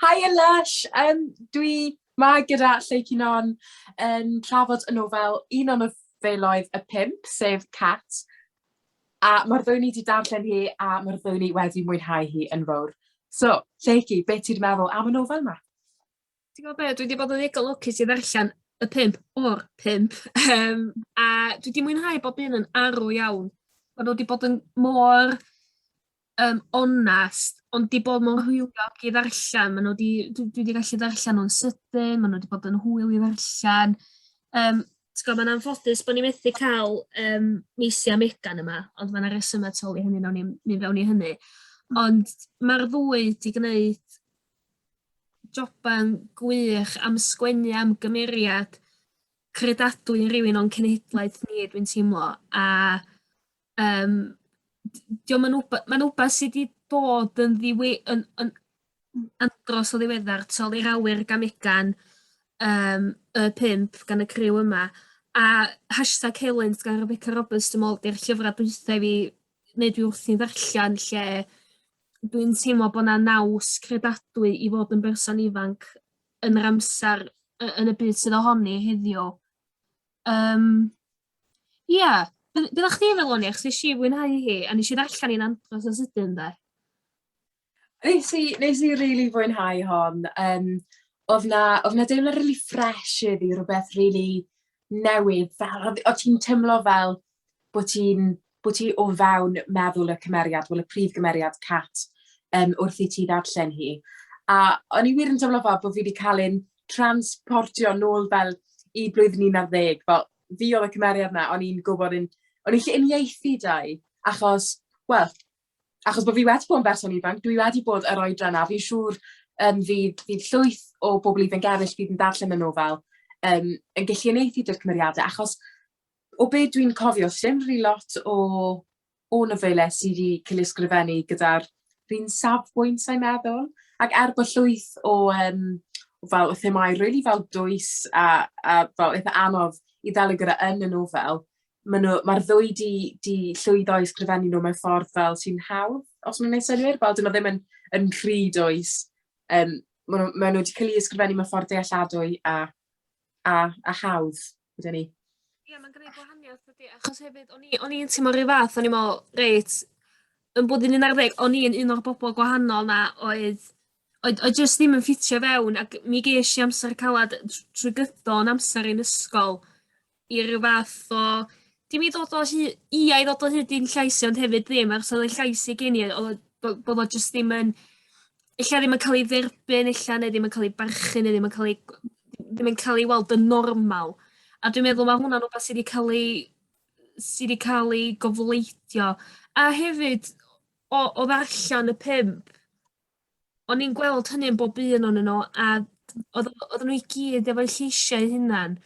Haia Lush! Yym dwi 'ma gyda Lleu Cunon yn trafod y nofel un o nofeloedd y pump sef Cat a ma'r ddwy o ni 'di darllen hi a ma'r ddwy o ni wedi mwynhau hi yn fowr. So, Lleucu, be' ti 'di meddwl am y nofel 'ma? Ti'n gwbo be' dwi 'di bod yn ddigon lwcus i ddarllen y pump o'r pump yym a dwi 'di mwynhau bob un yn arw iawn. Ma' nw 'di bod yn mor yym onast ond 'di bod mewn hwyliog i ddarllan ma' nw 'di dwi dwi 'di gallu ddarllan nw'n sydyn ma' nw 'di bod yn hwyl i ddarllan yym ti gwo ma'n anffodus bo' ni methu ca'l yym Maisie a Megan yma ond ma' 'na resyma tu ôl i hynny nawn ni'm myn' fewn i hynny ond ma'r ddwy 'di gneud joban gwych am sgwennu am gymeriad credadwy i rywun o'n cenhedlaeth ni dwi'n teimlo a Yym d- 'di o'm yn wbe- ma'n wbath sy 'di bod yn ddiwe- yn yn m- andros o ddiweddar t'o' i'r awyr gamegan yym y pump gan y criw yma a hashtag helynt gan Rebecca Roberts dwi me'wl 'di'r llyfra dwitha i fi ne' dwi wrthi'n ddarllan lle dwi'n teimlo bo' 'na naws credadwy i fod yn berson ifanc yn yr amsar y- yn y byd sydd ohoni heddiw. Yym ia be' be' oddach chdi feddwl o ni achos nes i fwynhau hi a nes i ddarllen 'i'n andros o sydyn 'de? Nes i nes i rili fwynhau hon yym odd 'na odd 'na deimlad rili ffresh heddi rwbeth rili newydd fel o' o' ti'n timlo fel bo' ti'n bo' ti o fewn meddwl y cymeriad wel y prif gymeriad Cat yym wrth i ti ddarllen hi. A o'n i wir yn teimlo fel bo' fi 'di ca'l un transportio nôl fel i blwyddyn un ar ddeg fel fi odd y cymeriad 'na o'n i'n gwbod yn o'n i 'llu uniaethu 'da 'i achos wel achos bo' fi wedi bod yn berson ifanc dwi wedi bod yr oedran 'na fi'n siŵr yym fydd fydd llwyth o bobol ifanc eryll fydd yn darllen y nofel yym yn gellu uniaethu 'da'r cymeriade achos o be dwi'n cofio sdim rili lot o o nofelau sy 'di cael eu ysgrifennu gyda'r un safbwynt sa i'n meddwl. Ac er bod llwyth o yym fel y themâu rili fel dwys a a fel eitha anodd i ddelio gyda yn y nofel ma' nw ma'r ddwy 'di 'di llwyddo i ysgrifennu nw mewn ffordd fel sy'n hawdd os ma' wnna'n neud synnwyr? Fel 'dyn nw ddim yn yn rhy dwys yym ma' nw ma' nw 'di ca'l 'u ysgrifennu mewn ffordd dealladwy a a a hawdd. Wedyn ni. Ie, yeah, mae'n gwneud gwahaniaeth ydy, achos hefyd, o'n i'n i teimlo rhyw fath, o'n i'n meddwl, reit, yn bod yn un ar ddeg, o'n i'n un o'r bobl gwahanol na oedd, oedd, oedd jyst ddim yn ffitio fewn, ac mi ges i amser calad trwy gydol yn amser i'n ysgol i rhyw fath o, dim i ddod o hyd, i a i ddod o hyd i'n llais i, ond hefyd ddim, achos oedd y llais i gen i, oedd bod o jyst ddim yn, ella ddim yn cael ei dderbyn ella neu ddim yn cael ei barchu neu ddim yn cael ei ddim yn cael ei weld yn normal. A dwi'n meddwl mae hwnna'n rhywbeth sydd wedi cael ei sydd wedi cael ei gofleidio. A hefyd o, o ddarllen y pimp, o'n i'n gweld hynny yn bob un o'n nhw a oedd oedden nhw i gyd efo'u lleisiau hunan.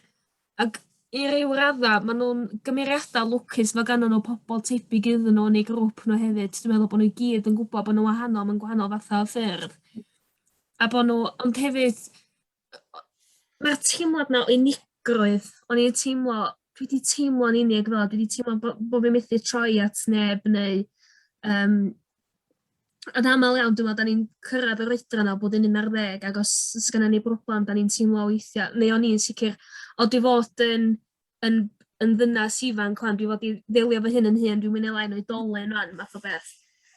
Ac i ryw radda ma' nw'n gymeriada lwcus ma' gannon n'w pobol tebyg iddyn n'w yn eu grŵp nhw hefyd dwi meddwl bo' n'w i gyd yn gwbod bo' n'w wahanol mewn gwahanol fatha o ffyrdd a bo' n'w ond hefyd yy o- ma'r teimlad 'na o unigrwydd o'n i'n teimlo dwi 'di teimlo'n unig fel dwi 'di teimlo bo' bo' fi methu troi at neb neu yym Yn aml iawn, dwi'n meddwl, da ni'n cyrraedd yr oedran o bod yn un ar ddeg, ac os os gynna ni broblem, da ni'n teimlo weithiau, neu o'n i'n sicr, o dwi fod yn, yn, yn ddynas ifanc rwan, dwi fod i ddelio fy hyn yn hyn, dwi'n mynd i lai'n oedolyn rwan, math o beth.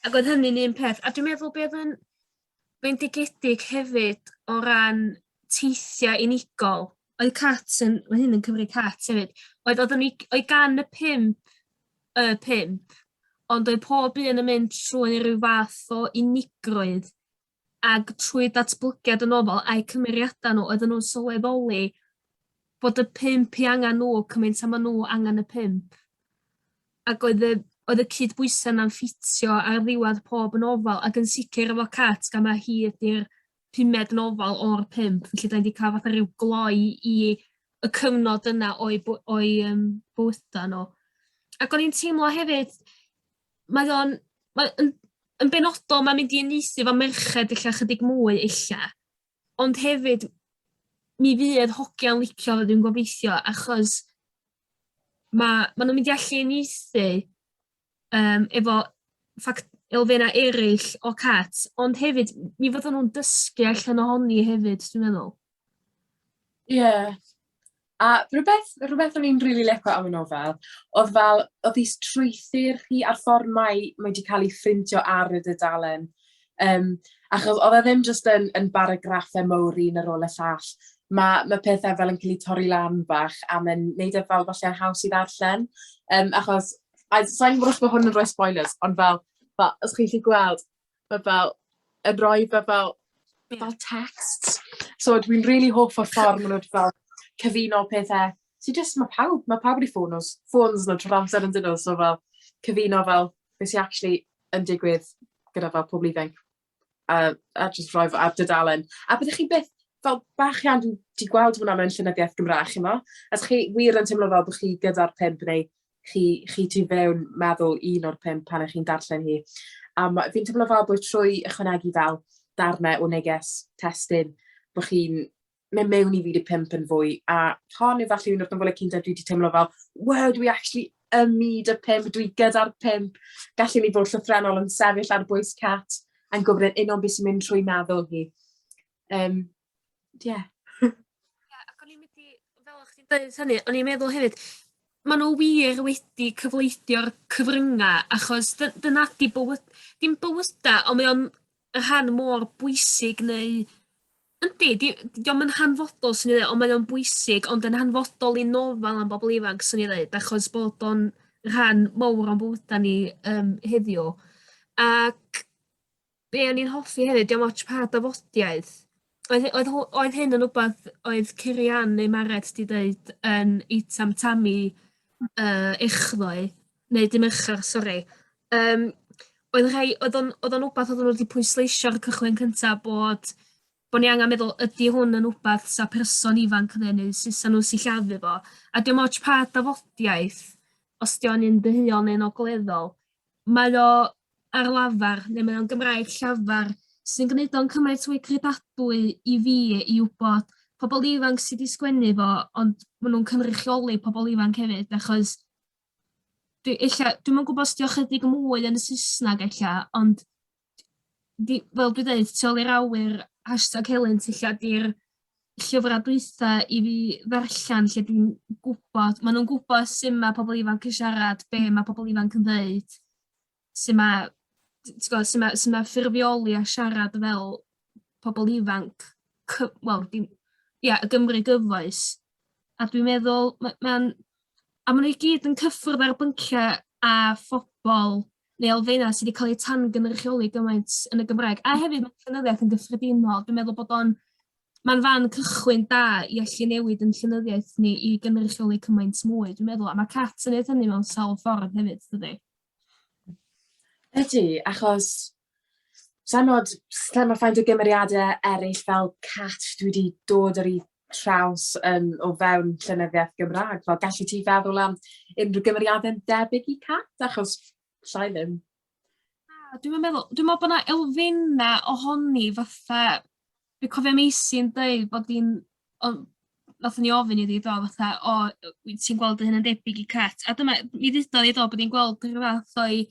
Ac oedd hynny'n un peth. A dwi'n meddwl beth yn, bendigedig hefyd o ran teithiau unigol. Oedd cat yn... Mae hyn yn cymryd cat hefyd. Oedd oedd ni oedd gan y pump y pump ond oedd pob un yn mynd trwy rhyw fath o unigrwydd ag trwy datblygiad yn ofal a'u cymeriada' nhw oedden nhw'n sylweddoli bod y pump i angan nhw cymaint â ma' nhw angan y pump. Ac oedd y oedd y cydbwysau 'na'n ffitio ar ddiwadd pob nofel ac yn sicr efo Cat gan ma' hi ydi'r pumed nofel o'r pump felly 'dan ni 'di ca'l fatha ryw gloi i y cyfnod yna o'u by- o'u yym bywyda nw. Ac o'n i'n teimlo hefyd mae o'n mae yn yn benodol ma'n mynd i uniaethu 'fo merched ella chydig mwy ella ond hefyd mi fydd hogia'n licio fo dwi'n gobeithio achos ma' ma' nw'n mynd i allu uniaethu yym efo ffac- elfenna' eryll o cats ond hefyd m- mi fyddan nhw'n dysgu allan ohoni hefyd dwi'n meddwl. Ie a rwbeth rwbeth o'n i'n rili lico am y nofel odd fel odd 'i strwythur hi a'r ffor mae mae 'di ca'l 'i phrintio ar y dudalen Um, achos oedd e ddim jyst yn, yn baragraffau mawr un ar ôl y llall. Mae, mae pethau fel yn cael eu torri lan bach a mae'n neud e fel falle haws i ddarllen. Um, achos, a sa'n gwybod os mae hwn yn rhoi spoilers, ond fel, fel os chi'n chi gweld, mae fel, yn rhoi fe fel, yeah. fel text. So dwi'n rili really hoff o'r ffordd maen nhw'n fel cyfuno pethau. So just, mae pawb, mae pawb wedi ffôn nhw, ffôn nhw trwy'r amser yn dyn nhw, so fel cyfuno fel beth sy'n actually yn digwydd gyda fel pobol ifainc a a jyst rhoi fe ar dudalen a byddech chi byth fel bach iawn dwi 'di gweld hwnna mewn llenyddiaeth Gymra'g ch'mo'? A 'dych chi wir yn teimlo fel bo' chi gyda'r pump neu chi chi tu fewn meddwl un o'r pump pan 'ych chi'n darllen hi. A ma'... Fi'n teimlo fel bod trwy ychwanegu fel darne o neges testun bo' chi'n mynd mewn i fyd y pump yn fwy, a hon efallai un o'r nofele cynta dwi wedi teimlo fel, wow, dwi actually ym myd y pump, dwi gyda'r pump, gallu ni fod llythrenol yn sefyll ar bwys cat, yn gwybod yn unol beth sy'n mynd trwy meddwl hi. Um, yeah. yeah, ac o'n i'n mynd i, fel o'ch chi'n dweud hynny, o'n i'n meddwl hefyd, maen nhw wir wedi cyfleithio'r cyfryngau, achos dyna di bywyd, dim bywydau, ond mae o'n y rhan mor bwysig neu yndi di- 'di o'm yn hanfodol swn i ddeu' on' mae o'n bwysig ond yn hanfodol i nofal am bobol ifanc swn i ddeud achos bod o'n rhan mowr o'n bywyda ni yym heddiw ac be' o'n i'n hoffi hefyd 'di o'm ots pa dafodiaith Oedd oedd ho- oedd hyn yn wbath oedd Cyrian neu Mared 'di deud yn eitem talu yy echddoe neu dy' Mercher sori yym oedd rhai oedd o'n oedd o'n wbath oedden nhw 'di pwysleisio ar y cychwyn cynta bod bod ni angen meddwl ydy hwn yn wbath 'sa person ifanc yn neu sut 'sa nhw'n sillafu fo a dim ots pa dafodiaith os 'di o'n un deuol neu'n ogleddol mae o ar lafar, neu mae o'n Gymraeg llafar, sy'n gwneud o'n cymaint mwy credadwy i fi i wybod pobl ifanc sydd wedi sgwennu fo, ond maen nhw'n cynrychioli pobl ifanc hefyd, achos dwi ella, dwi'm yn gwybod os 'di o chydig mwy yn y Saesneg ella, ond di- fel dwi deud tu ol i'r awyr hashtag helynt ella 'di'r llyfra dwitha i fi ddarllan lle dwi'n gwbod ma' nw'n gwbo su' ma' pobol ifanc yn siarad be' ma' pobol ifanc yn ddeud su' ma' t- t'god su' ma' su' ma' ffurfioli a siarad fel pobol ifanc cy- wel dim ia y Gymry gyfoes a dwi meddwl ma' ma'n a ma' nw i gyd yn cyffwrdd ar y byncia' a phobol neu elfenna' sy 'di ca'l eu tan-gynrychioli gymaint yn y Gymraeg a hefyd ma'n llenyddiaeth yn gyffredinol dwi'n meddwl bod o'n ma'n fan cychwyn da i allu newid 'yn llenyddiaeth ni i gynrychioli cymaint mwy dwi'n meddwl a ma' Cats yn neud hynny mewn sawl ffordd hefyd dydi? Ydi achos sai'n 'od s- sai'n 'od faint o gymeriade eryll fel Cats dwi 'di dod ar 'u traws yn o fewn llenyddiaeth Gymra'g fel galli ti feddwl am unrhyw gymeriade'n debyg i Cat achos 'llai ddim. Na dwi'm yn meddwl dwi me'wl bo' 'na elfenna' ohoni fatha dwi cofio Meisy'n deud bod 'i'n o nathon ni ofyn iddi do fatha o yy wyt ti'n gweld dy hun yn debyg i Cat a dyma mi ddeudodd 'i do bod 'i'n gweld rhyw fath o'i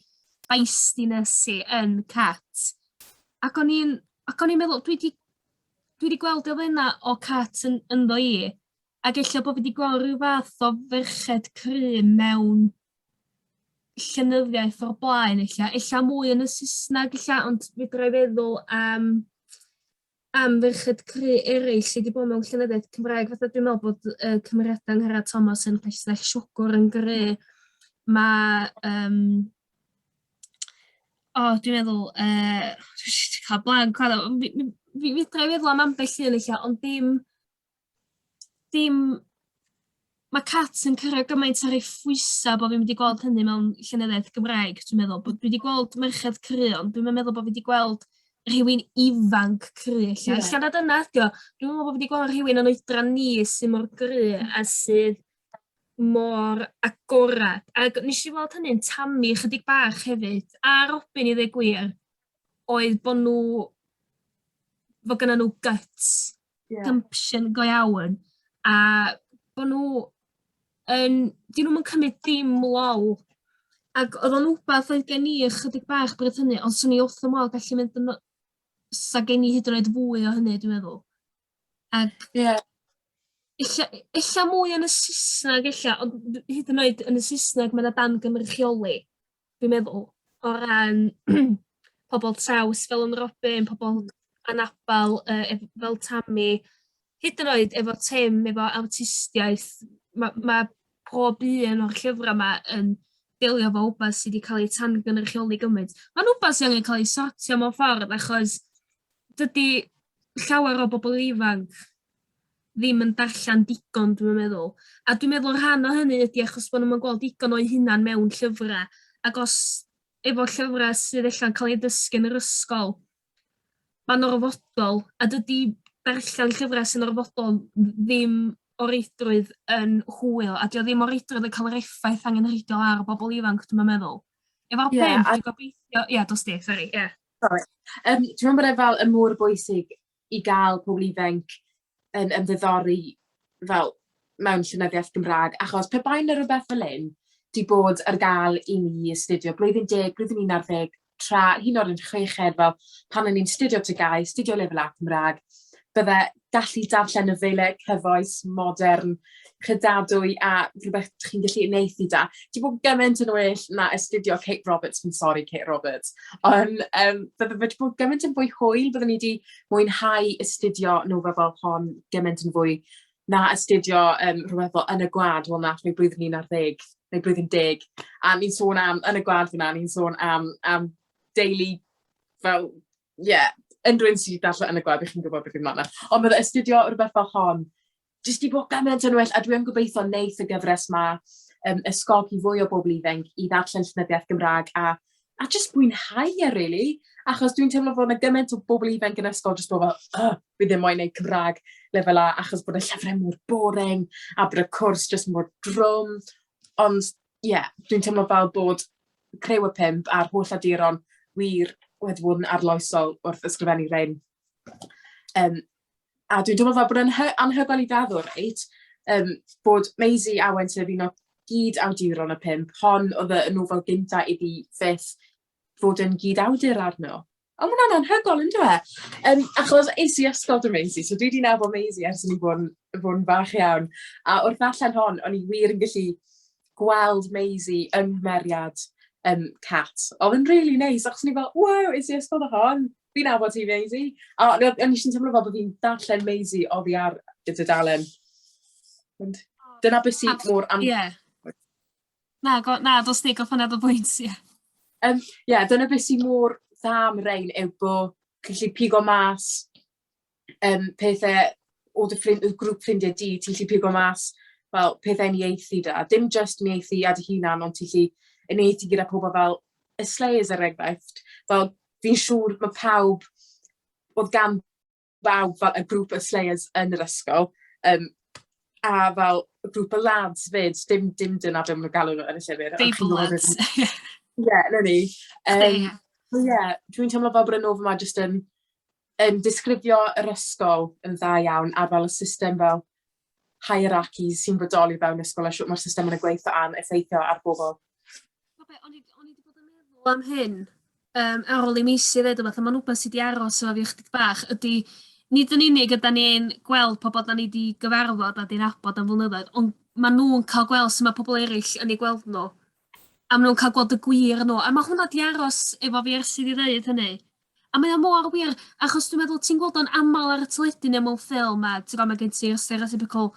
feistiness hi yn Cat ac o'n i'n ac o'n i'n meddwl dwi 'di Dwi wedi gweld elfennau o Cats yn, ynddo i, ac eich bod fi wedi gweld rhyw fath o ferched crym mewn llenyddiaeth o'r blaen, eich eich mwy yn y Saesneg, eich ond fi droi feddwl am, am ferched cry eraill sydd wedi bod mewn llenyddiaeth Cymraeg, fatha dwi'n meddwl bod uh, cymeriadau Nghara Thomas yn Rhesnell Siwgwr yn gry, mae um, O, dwi'n meddwl yy dwi jys 'di ca'l blank wan on' mi mi mi fedra'i feddwl am ambell un ella ond dim dim... Ma' cats yn curo gymaint o rei phwysa' bo' fi'm 'di gweld hynny mewn llenyddiaeth Gymraeg dwi meddwl bo' dwi 'di gweld merched crio ond dwi'm yn meddwl bo' fi 'di gweld rhywun ifanc crio ella... Ia. ...ella na dyna ydi o dwi'm yn me'wl bo' fi 'di gwel' rhywun yn oedran ni sy mor gry a sydd mor agored. Ac nes i weld hynny'n tamu chydig bach hefyd, a Robin i ddweud gwir, oedd bod nhw, fod gyda nhw guts, yeah. gumption go iawn, a bod nhw yn, dyn nhw'n cymryd dim lol. Ac oedd o'n wbath oedd gen i ychydig bach bryd hynny, ond swn i wrth y modd gallu mynd yn... sa gen i hyd yn oed fwy o hynny, dwi'n meddwl. Ac... Ie. ...ella ella mwy yn y Sysnag ella ond hyd yn oed yn y Sysnag ma' 'na dan gynrychioli dwi'n meddwl o ran pobol traws fel yn Robin pobol anabal yy ef- fel Tami hyd yn oed efo Tim efo awtistiaeth ma' ma' pob un o'r llyfra 'ma yn delio efo wbath sy 'di ca'l ei tan-gynrychioli gymint. Ma'n wbath sy angen ca'l ei sortio mewn ffordd achos dydi llawer o bobl ifanc ddim yn darllen digon dwi'n meddwl a dwi'n meddwl rhan o hynny ydi achos bo' nw'm yn gweld digon o'u hunan mewn llyfra' ac os efo llyfra' sydd ella'n ca'l ei ddysgu yn yr ysgol ma'n orfodol a dydi darllen llyfra' sy'n orfodol ddim o reidrwydd yn hwyl a 'di o ddim o reidrwydd yn ca'l yr effaith angenrheidiol ar bobol ifanc dwi'm yn meddwl. Efo'r pen... Ie a... ...dwi'n gobeithio ia dos di sori ia. Sori. Yym dwi me'wl bod e fel yn mor bwysig i ga'l pobol ifainc yn ymddiddori fel mewn llenyddiaeth Gymra'g achos pe bai 'na rwbeth fel 'yn 'di bod ar ga'l i ni astudio blwyddyn deg blwyddyn un ar ddeg tra hyd yn o'd yn chweched fel pan o'n i'n 'studio TGAU 'studio lefel A Cymra'g bydde gallu darllen y feile cyfoes modern credadwy a rhywbeth dych chi'n gallu uniaethu 'da. Ti bod gyment yn well na astudio Kate Roberts fi'n sori Kate Roberts. Ond yym bydde fe 'di bod gymaint yn fwy hwyl byddwn i 'di mwynhau astudio nofel fel hon gymaint yn fwy na astudio yym rhywbeth fel Yn y Gwlad wel nath ni blwyddyn un ar ddeg neu blwyddyn deg a ni'n sôn am Yn y Gwlad fyn 'na ni'n sôn am am deulu fel Ie, unrhyw un sydd wedi darllen Yn y Gwddf, y'ch chi'n gwybod beth fi'n meddwl. Ond bydde astudio rhywbeth fel hon jyst 'di bod gymaint yn well, a dwi yn gobeithio wneith y gyfres 'ma um, ysgogi fwy o bobl ifanc i ddarllen llenyddiaeth Gymraeg a a jyst mwynhau e really. Achos dwi'n teimlo fod yna gymaint o bobl ifanc yn ysgol jyst bod fel, oh, fi ddim moyn neud Cymraeg lefel A achos bod y llyfrau mor boring a bod y cwrs jyst mor drwm. Ond ie, dwi'n teimlo fel bod Criw y Pump a'r holl awduron wir wedi bod yn arloesol wrth ysgrifennu rhein. Um, a dwi'n teimlo fel bod yn anhygoel i feddwl, reit, um, bod Maisie Awen sef un o gyd awduron y pump, hon oedd y nofel gynta iddi fyth fod yn gyd-awdur arno. O, mae hwnna'n anhygol, yn dweud? e? Um, achos es i ysgol dy Maisie, so dwi wedi nabod Maisie ers ni fod yn fach iawn. A wrth ddarllen hon, o'n i wir yn gallu gweld Maisie yng nghymeriad um, Cat. Oedd yn really neis, achos ni fel, wow, es i ysgol dy hon, fi'n nabod ti Maisie. A o'n i eisiau teimlo fel bod fi'n darllen Maisie oddi ar y dudalen. Dyna beth sy'n mor anhygol. Yeah. Na, go, na, dos di, goffo nad o bwynt, ie. Yeah. Um, yeah, dyna beth sy'n mor dda am rein yw bod chi'n lli pigo mas um, pethau o dy ffrind, y grŵp ffrindiau di, ti'n lli pigo mas fel pethau ni eithi da. Dim just ni eithi a dy hunan, ond ti'n lli yn eithi gyda pobl fel y Slayers er enghraifft. Fel fi'n siŵr mae pawb oedd gan waw fel y grŵp y slayers yn yr ysgol yym a fel grŵp o lads 'fyd dim dim dyna be ma' nw'n galw nw yn y llyfyr. Stable lads. Ie 'na ni. Yym so ie dwi'n teimlo fel bod y nofel 'ma jyst yn yn disgrifio yr ysgol yn dda iawn a fel y system fel hierarchy sy'n bodoli fewn ysgol a shwt mae'r system yn y gweith a'n effeithio ar bobl. Oce, o'n i, o'n i wedi bod yn meddwl am hyn um, ar ôl i mi eisiau ddeud yma, mae'n rhywbeth sydd wedi aros efo fi ychydig bach, ydy nid yn unig ydy ni'n gweld pobl da ni wedi gyfarfod a di'n abod am flynyddoedd, ond maen nhw'n cael gweld sy'n mae pobl eraill yn ei gweld nhw. A maen nhw'n cael gweld y gwir nhw. A mae hwnna di aros efo fi ers i fi ddeud hynny. A mae o mor wir, achos dwi'n meddwl ti'n gweld o'n aml ar y teledu neu mewn ffilm a ti'n gwybod mae gen ti'r stereotypical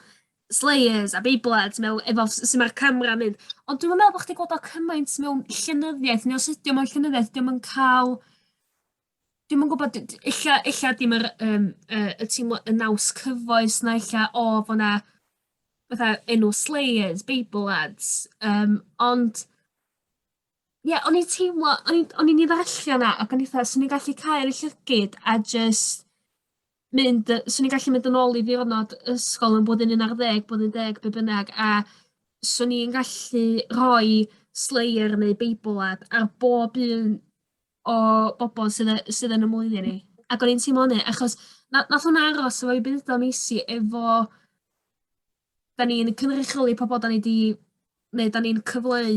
slayers a beiblets mewn efo sy'n mae'r camera yn mynd. Ond dwi'n meddwl bod chdi gweld o cymaint mewn llenyddiaeth neu os ydy o mewn llenyddiaeth dwi'n yn cael Dwi'n yn gwybod illa illa dim yr um, uh, y teimlo y naws cyfoes na illa o oh, fo na fatha enw Slayers, Bible Ads, um, ond Ie, yeah, o'n i'n teimlo, o'n i'n o'n i'n ei ddarllen yna, ac o'n i'n fatha, swn i'n gallu cael y llygyd a just mynd, yy, swn i'n gallu mynd yn ôl i ddiwrnod ysgol yn blwyddyn 11, blwyddyn 10, be bynnag, a swn i'n gallu rhoi Slayer neu Beibl ad ar bob un o bobl sydd, y- sydd yn y mlwyddyn ni. Ac o'n i'n teimlo hynny, achos na, nath hwnna aros efo i byd o'n eisi efo 'dan ni'n cynrychioli pobol 'dan ni 'di ne' 'dan ni'n cyfleu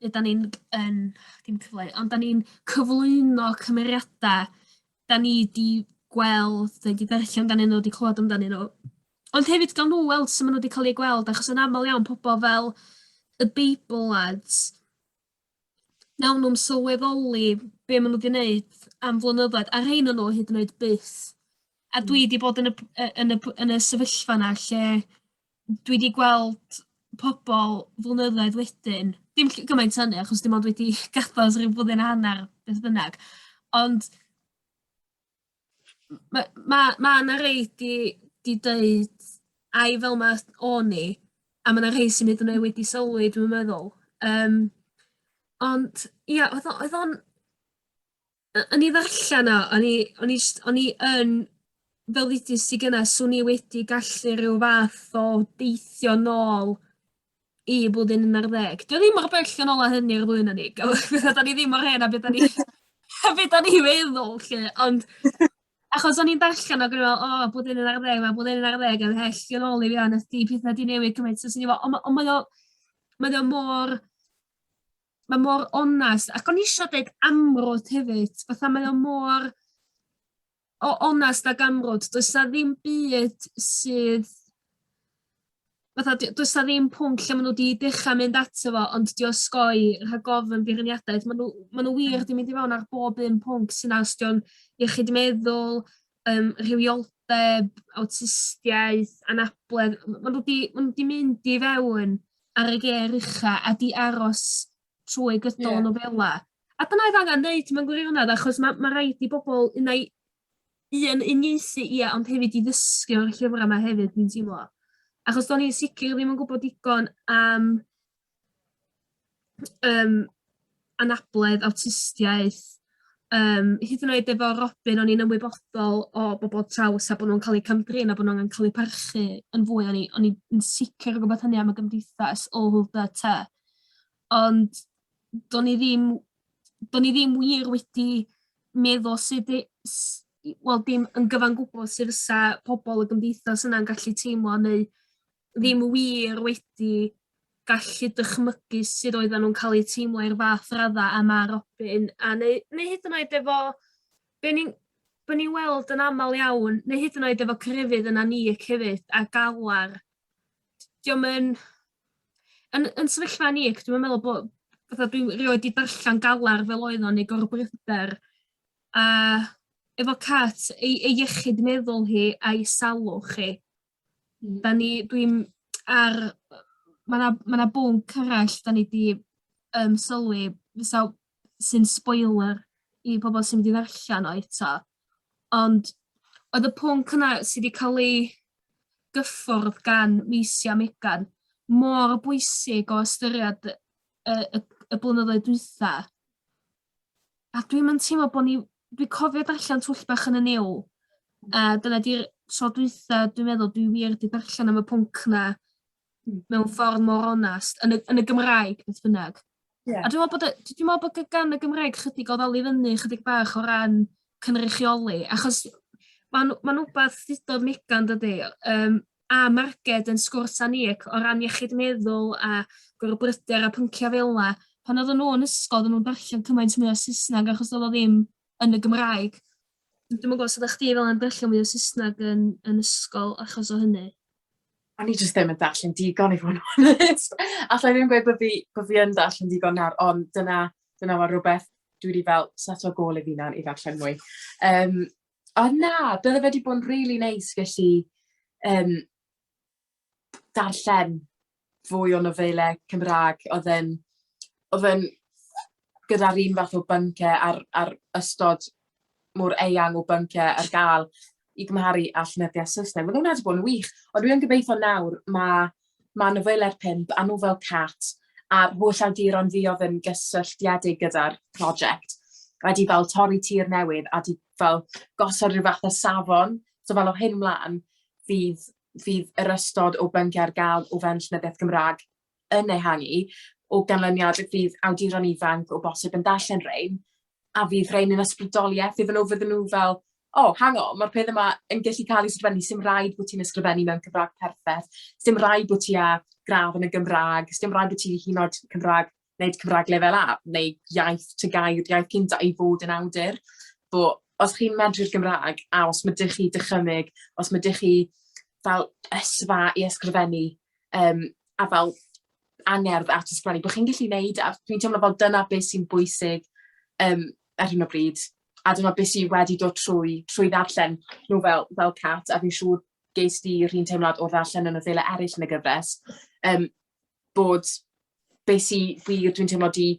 ne' 'dan ni'n g- yn dim cyfleu ond 'dan ni'n cyflwyno cymeriada 'dan ni 'di gweld ne' 'di darllen ganddyn n'w 'di clŵad amdanyn n'w. Ond hefyd gawn n'w weld su' ma' n'w 'di ca'l eu gweld achos yn amal iawn pobol fel y Beibl Lads wnawn nhw'm sylweddoli be' ma' nw 'di neud am flynyddoedd a rhein o nw hyd yn oed byth. A dwi 'di bod yn y p- yy yn y p- yn y sefyllfa 'na lle dwi 'di gweld pobol flynyddoedd wedyn dim ll- gymaint â 'ny achos dim ond wedi gadal ers ryw flwyddyn a hannar beth bynnag ond Mae ma, ma 'na rei 'di 'di deud ai fel 'ma o'n i, a ma' 'na rhei sy'n hyd yn oed wedi sylwi dwi'n meddwl. Yym ond ia oedd o oedd o'n yy yn 'i ddarllen o o'n i o'n i jyst o'n i yn fel ddudust ti gynne 'swn i wedi gallu ryw fath o deithio nôl i blwyddyn un ar ddeg. Dwi ddim mor bell yn ôl â hynny ar flwyddyn ni. Fatha 'dan ni ddim mor hen a be' 'dan ni a be' 'dan ni feddwl 'lly ond achos o'n i'n darllen ag o'n i fel o blwyddyn un ar ddeg ma' blwyddyn un ar ddeg yn well yn ôl i fi a nes 'di petha 'di newid cymaint so o'n i fel o ma' o mae o mae o mor ma' mor onast ac o'n i isio deud amrwd hefyd fatha mae o mor o onest ag amrwd does 'na ddim byd sydd fatha d- does 'na ddim pwnc lle ma' nw 'di dechra mynd ato fo ond 'di osgoi rhag ofn beirniadaeth ma' nw ma' nw wir 'di mynd i mewn ar bob un pwnc sy 'na os 'di o'n iechyd meddwl yym rhywioldeb awtistiaeth anabledd m- ma' nw 'di ma' nw 'di mynd i fewn ar y gêr ucha' a 'di aros trwy gydol... Ie. ...nofela a dyna odd angan neud mewn gwirionedd achos ma' ma' raid i bobol unai un uniaethu ia ond hefyd i ddysgu o'r llyfra 'ma hefyd dwi'n teimlo. Achos do'n i'n sicir ddim yn gwbod digon am yym anabledd awtistiaeth yym hyd yn oed efo Robin o'n i'n ymwybodol o bobol traws a bo' nw'n ca'l eu cam-drin a bo' n'w angen ca'l eu parchu yn fwy o'n i o'n i yn sicir o gwbod hynny am y gymdeithas all the ty. Ond do'n i ddim do'n i ddim wir wedi meddwl sud i s- i wel dim yn gyfan gwbwl sud fysa pobol y gymdeithas yna'n gallu teimlo neu ddim wir wedi gallu dychmygu sud oeddan nhw'n ca'l eu teimlo i'r fath radda a ma' Robin a neu neu hyd yn oed efo be' ni'n bo' ni'n weld yn amal iawn neu hyd yn oed efo crefydd yna ni yy hefyd a galar 'dio'm yn yn yn sefyllfa ni ac dwi'm yn meddwl bo' fatha dwi rioed 'di darllan galar fel oedd o neu gorbryder a efo Cat ei ei iechyd meddwl hi a'i salwch hi 'dan ni dwi'n ar yy ma' 'na ma' 'na bwnc arall 'dan ni 'di yym sylwi fysa sy'n sboiler i pobol sy mynd i ddarllan o eto Ond oedd y pwnc yna sy 'di ca'l ei gyffwrdd gan Maelsi a Megan mor bwysig o ystyried y y y y blynyddoedd dwytha. A dwi'm yn teimlo bo' ni dwi cofio darllen twll bach yn y New a dyna 'di'r tro dwytha dwi'n meddwl dwi wir 'di darllen am y pwnc 'na Hmm. mewn ffordd mor onast yn y yn y Gymraeg beth bynnag. Ie. A dwi me'wl bod y dwi dwi me'wl bod gy- gan y Gymraeg chydig o ddal i fyny chydig bach o ran cynrychioli achos ma'n ma'n wbath ddudodd Megan dydi yym a marged yn sgwrs â ni ac o ran iechyd meddwl a gorbryder a pyncia' fel 'a pan oedden nhw yn ysgol oedden nhw'n darllen cymaint mwy o Saesneg achos do'dd o ddim yn y Gymraeg. Dwi'm yn gwbo os oddach chdi fel yn darllen mwy o Saesneg yn yn ysgol achos o hynny? o'n i jyst ddim yn darllen digon i fod yn onest. Alla i ddim gweud bod fi, bod fi yn darllen digon nawr, ond dyna, dyna mae rhywbeth dwi wedi fel set o gol i fi nawr i ddarllen mwy. Um, o na, bydde fe wedi bod yn really neis nice, felly um, darllen fwy o nofelau Cymraeg oedd yn oedd yn gyda'r un fath o bynciau a'r a'r ystod mor eang o bynciau ar gael i gymharu â llenyddiaeth Saesneg. Mae hwnna wedi bod yn wych, ond dwi'n gobeithio nawr mae ma nofelau'r pimp a nofel Cat a'r holl awduron fi oedd yn gysylltiedig gyda'r prosiect wedi fel torri tir newydd a wedi fel gosod rhyw fath o safon. So fel o hyn mlaen fydd fydd yr ystod o bynciau ar gael o fewn Llenyddiaeth Gymraeg yn ehangu, o ganlyniad y bydd awduron ifanc o bosib yn darllen rhein, a fydd rhein yn ysbrydoliaeth iddyn nhw, fydden nhw fel, o, oh, hang on, mae'r peth yma yn gallu cael ei sgrifennu, sy'n rhaid bod ti'n ysgrifennu mewn Cymraeg perffaith, sy'n rhaid bod ti â gradd yn y Gymraeg, sy'n rhaid bod ti hyn oed Cymraeg wneud Cymraeg Lefel A, neu iaith Tygau, iaith cynta i fod yn awdur. Bo, os chi'n medru'r Gymraeg, a os ma' dych chi dychymyg, os ma' dych chi fel ysfa i ysgrifennu, um, a fel angerdd at ysgrifennu, bo chi'n gallu gwneud, a dwi'n teimlo fel dyna beth sy'n bwysig um, ar hyn o bryd. A dyna beth sy'n wedi dod trwy, trwy ddarllen nhw fel, fel cat, a fi'n siŵr ges di rhywun teimlad o ddarllen yn y ddele eraill yn y gyfres. Um, bod be sy wir dwi'n teimlo 'di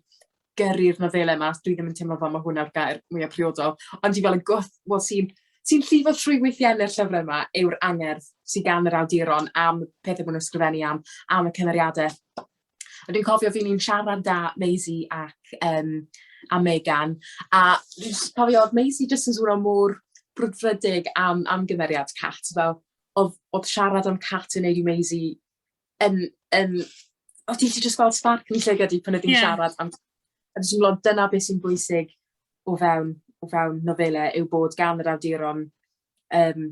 gyrru'r nofelau 'ma, dwi ddim yn teimlo fel ma' hwn yw'r gair mwya priodol, ond dwi fel y gwth wel sy'n sy'n llifo trwy weithienne'r llyfre 'ma yw'r angerdd sy gan yr awduron am pethe ma' nw'n ysgrifennu am am y cymeriade. A dwi'n cofio fi'n i'n siarad 'da Maisie ac yym a Megan a fi jyst cofio o'dd Maisie jyst yn swno mor brwdfrydig am am gymeriad Cat fel o'dd o'dd siarad am Cat yn neud i Maisie yn, yn, o ti 'di jyst gweld spark yn llygad i pan oedd hi'n siarad am... A dwi'n teimlo dyna beth sy'n bwysig o fewn o fewn nofelau yw bod gan yr awduron um,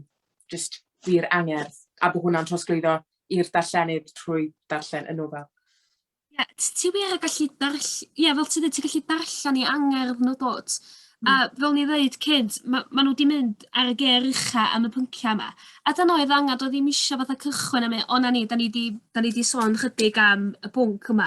just wir angerdd a bod hwnna'n trosglwyddo i'r darllenydd trwy darllen y nofel. Ie, t- ti wir yn gallu darll- ie fel ti'n dweud ti'n gallu darllen i angerdd nhw dw't? Hmm. A fel ni ddeud cynt ma' ma' nw 'di mynd ar y gêr ucha am y pyncia' 'ma. A dyna oedd angan doedd ddim isio fatha cychwyn am e- o 'na ni 'dan ni 'di 'dan ni 'di sôn chydig am y pwnc yma.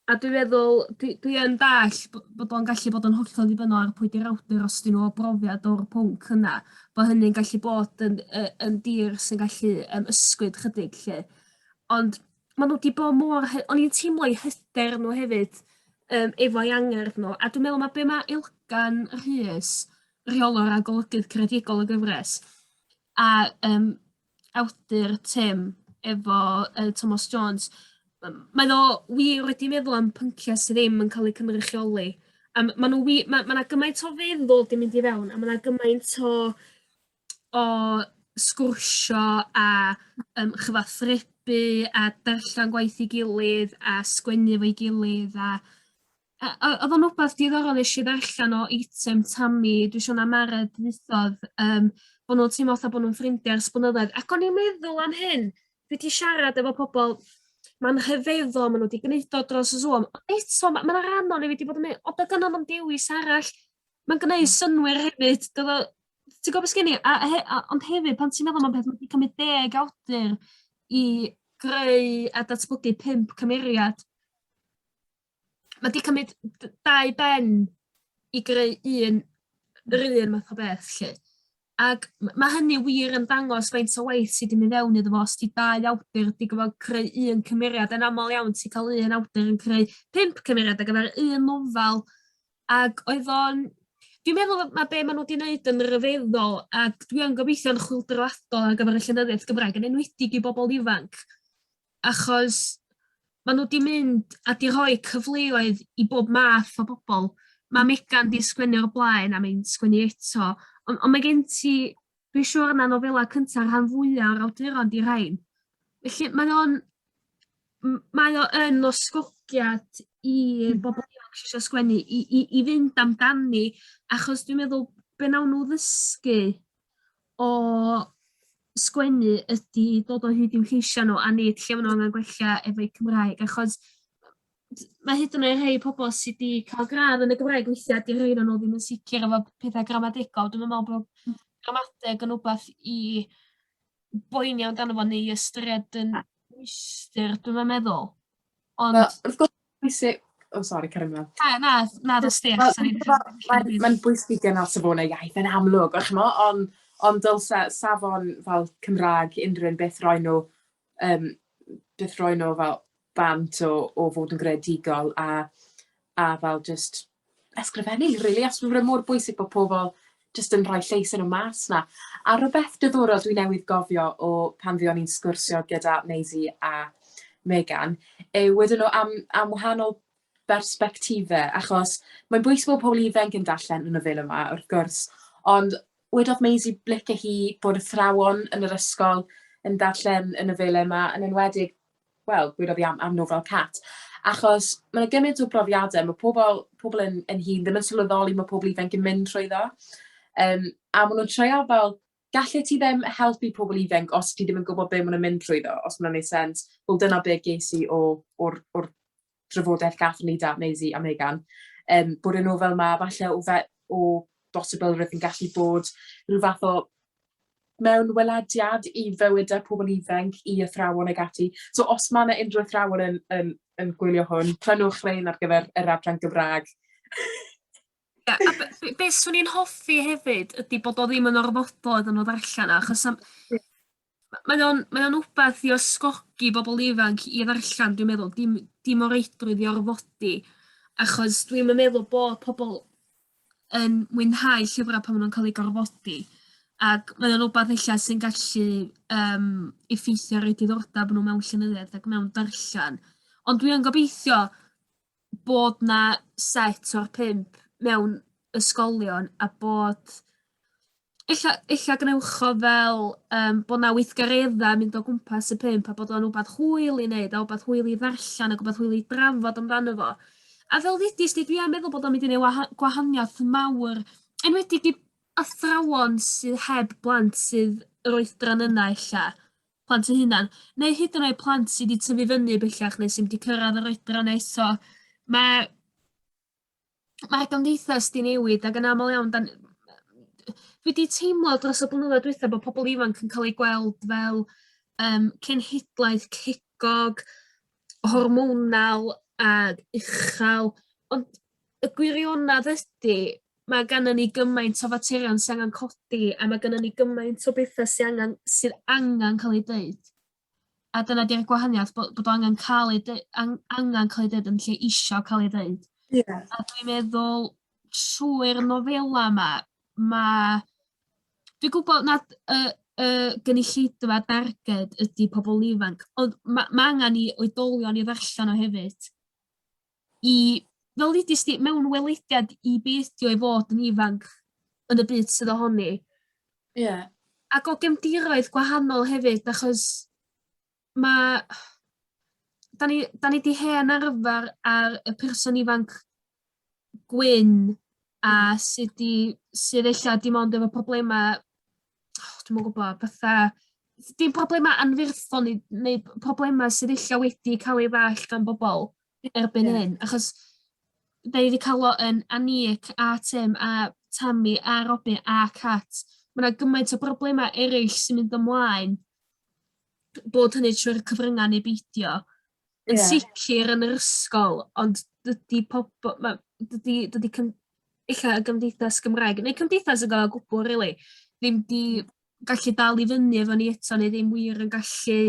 A dwi feddwl dwi dwi yn dall bo' bod o'n gallu bod yn hollol ddibynnol ar pwy 'di'r awdur os 'dyn nhw brofiad o'r pwnc yna bo' hynny'n gallu bod yn yy yn dir sy'n gallu yym ysgwyd chydig 'lly. Ond ma' nw 'di bo' mor hy- o'n i'n teimlo 'u hyder nhw hefyd yym efo'u angerdd nhw a dwi me'wl ma' be' ma' Ilkan Rhys rheolwr a golygydd creadigol y gyfres a yym awdur Tim efo yy Tomos Jones yym mae o wir wedi meddwl am pyncia' sy ddim yn ca'l eu cynrychioli a m- ma' nw wi- ma' ma' 'na gymaint o feddwl 'di mynd i fewn a ma' 'na gymaint o o sgwrsio a yym chyfathrebu a darllen gwaith 'i gilydd a sgwennu efo'i gilydd a yy o- odd o'n wbath diddorol nesh i ddarllan o eitem Tami dwi siŵr ma' Mara deuthodd yym bo' nw'n teimlo fatha bo' nw'n ffrindia ers blynyddoedd ac o'n i'n meddwl am hyn dwi 'di siarad efo pobol ma'n rhyfeddol ma' n'w 'di gneud o dros y Zoom ond eto ma' ma' 'na ran o ni wedi bod yn myn' o be' 'di o'n am dewis arall ma'n gneud synnwyr hefyd dylo ti'n gwybod beth sgen i? A, a, a, ond hefyd, pan ti'n meddwl am beth, mae'n cymryd deg awdur i greu a datblygu pimp cymeriad. Mae wedi cymryd dau ben i greu un, yr un math o beth, lle. Ac mae hynny wir yn dangos faint o waith sydd wedi mynd fewn iddo fo, os ti dau awdur wedi gofod creu un cymeriad, yn aml iawn ti'n cael un awdur yn creu pimp cymeriad ar gyfer un nofel, Ac oedd o'n... Dwi'n meddwl ma' be' ma' nw 'di neud yn ryfeddol ac dwi yn gobeithio'n chwyldroadol ar gyfer y llenyddiaeth Gymraeg yn enwedig i bobol ifanc achos ma' nw 'di mynd a 'di rhoi cyfleoedd i bob math o bobol ma' Megan 'di sgwennu o'r blaen a mae'n sgwennu eto on' on' mae gen ti Dwi siwr na nofela cynta rhan fwya o'r awduron 'di rhein. Felly mae o'n m- mae o yn osgogiad i bobol ifanc sy isio sgwennu i i i fynd amdani achos dwi'n meddwl be' nawn nw ddysgu o sgwennu ydi dod o hyd i'w lleisia' nw a nid lle ma' nw angan gwella efo'u Cymraeg achos D- ma' hyd yn oe' rhei pobol sy 'di ca'l gradd yn y Gymraeg weithia' 'di rhei o'nyn nw ddim yn sicir efo petha gramadegol dwi'm yn me'wl bo' gramadeg yn wbath i boeni amdano fo neu i ystyried yn ystyr dwi'm yn meddwl. Ond... Wel wrth gwrs pwysig o sori cario mlan. Na na na dos di achos o'n i'n... Ma'n bwysig gynno safone iaith yn amlwg a ch'mo' on' ond dylse safon fel Cymra'g unrywun beth roi n'w yym byth rhoi nw fel bant o o fod yn greadigol a a fel jyst ysgrifennu rili achos ma' fe mor bwysig bo' pobol jyst yn rhoi llais yn y mas 'na. A rwbeth diddorol dwi newydd gofio o pan fuon ni'n sgwrsio gyda Maisie a Megan yw wedon nw am am wahanol bersbectife achos mae'n bwysig bo' pobol ifanc yn darllen y nofele 'ma wrth gwrs ond wedodd Maisie licio hi bod athrawon yn yr ysgol yn darllen y nofelau 'ma yn enwedig wel gwedodd hi am am nofel Cat achos ma' 'na gymaint o brofiade ma' pobol pobol yn yn hŷn ddim yn sylweddoli ma' pobol ifanc yn mynd trwyddo yym a ma' nw'n treial fel gallet ti ddim helpu pobol ifanc os ti ddim yn gwbod be' ma' nw'n mynd trwyddo os ma' wnna'n neu' sense. Wel dyna be' ges i o o'r o'r drafodaeth gath ni 'da Maisie a Megan yym bod y nofel 'ma falle o fe- o bosibilrwydd yn gallu bod rhyw fath o mewn welediad i fywydau pobl ifanc, i athrawon ag ati. So os mae yna unrhyw athrawon yn, yn, yn gwylio hwn, prynwch rein ar gyfer yr adran Gymraeg. Ia a be' be' be' swn i'n hoffi hefyd ydi bod o ddim yn orfodol iddyn nw ddarllan o achos am... Ia. ...ma' mae o'n mae o'n wbath i ysgogi bobol ifanc i ddarllan dwi'n meddwl dim dim o reidrwydd i orfodi achos dwi'm yn meddwl bo' pobol yn mwynhau llyfra' pan ma' nw'n ca'l eu gorfodi ag mae o'n wbath ella sy'n gallu yym effeithio ar eu diddordab nw mewn llenyddiaeth ac mewn darllan ond dwi yn gobeithio bod 'na set o'r pump mewn ysgolion a bod ella ella gwnewch o fel yym bo' 'na weithgaredda yn mynd o gwmpas y pump a bod o'n wbath hwyl i neud a wbath hwyl i ddarllan ag wbath hwyl i drafod amdano fo. A fel ddedes di dwi am meddwl bod o'n mynd i neu' waha- gwahaniath mawr enwedig i athrawon sy heb blant sydd yr oedran yna ella. plant eu hunain, neu hyd yn oed plant sydd wedi tyfu fyny bellach neu sydd wedi cyrraedd yr oedran yna eto. Mae mae'r gymdeithas 'di newid ac yn aml iawn 'dan dwi 'di teimlo dros y blynyddoedd dwytha bo' pobol ifanc yn ca'l eu gweld fel yym cenhedlaeth cegog hormonal a uchel, ond y gwirionedd ydy, mae gennym ni gymaint o faterion sy'n angen codi a mae gennym ni gymaint o bethau sy angen sydd angen cael ei dweud. A dyna 'di'r gwahaniaeth bod bod o angen cael ei deu- an- angen cael ei dweud yn lle isio cael ei dweud. Ie. A dwi'n meddwl trwy'r nofela 'ma ma' dwi'n gwybod nad y y gynulleidfa darged ydy pobl ifanc, ond ma' ma' angen i oedolion i ddarllen o hefyd. I fel ddudust di mewn welediad i be' ydi o i fod yn ifanc yn y byd sydd ohoni. Ie. Ac o gefndiroedd gwahanol hefyd achos mae... Da ni, da ni di hen arfer ar y person ifanc gwyn a hmm. sydd di, sydd eich dim ond efo problemau, oh, dwi'n mwyn gwybod, fatha, dim problemau anferthon neu problemau sydd eich wedi cael ei ddall gan bobl erbyn yeah. hyn. Achos da ni wedi cael o yn Anic a Tim a Tammy a Robin a Cat. Mae yna gymaint o broblemau eraill sy'n mynd ymlaen bod hynny trwy'r cyfryngau neu beidio, yn yeah. sicr yn yr ysgol, ond dydy pobl, ma, dydy, dydy cym, illa y gymdeithas Gymraeg, neu cymdeithas y gael o gwbl, really, ddim di hmm. gallu dal i fyny efo ni eto, neu ddim wir yn gallu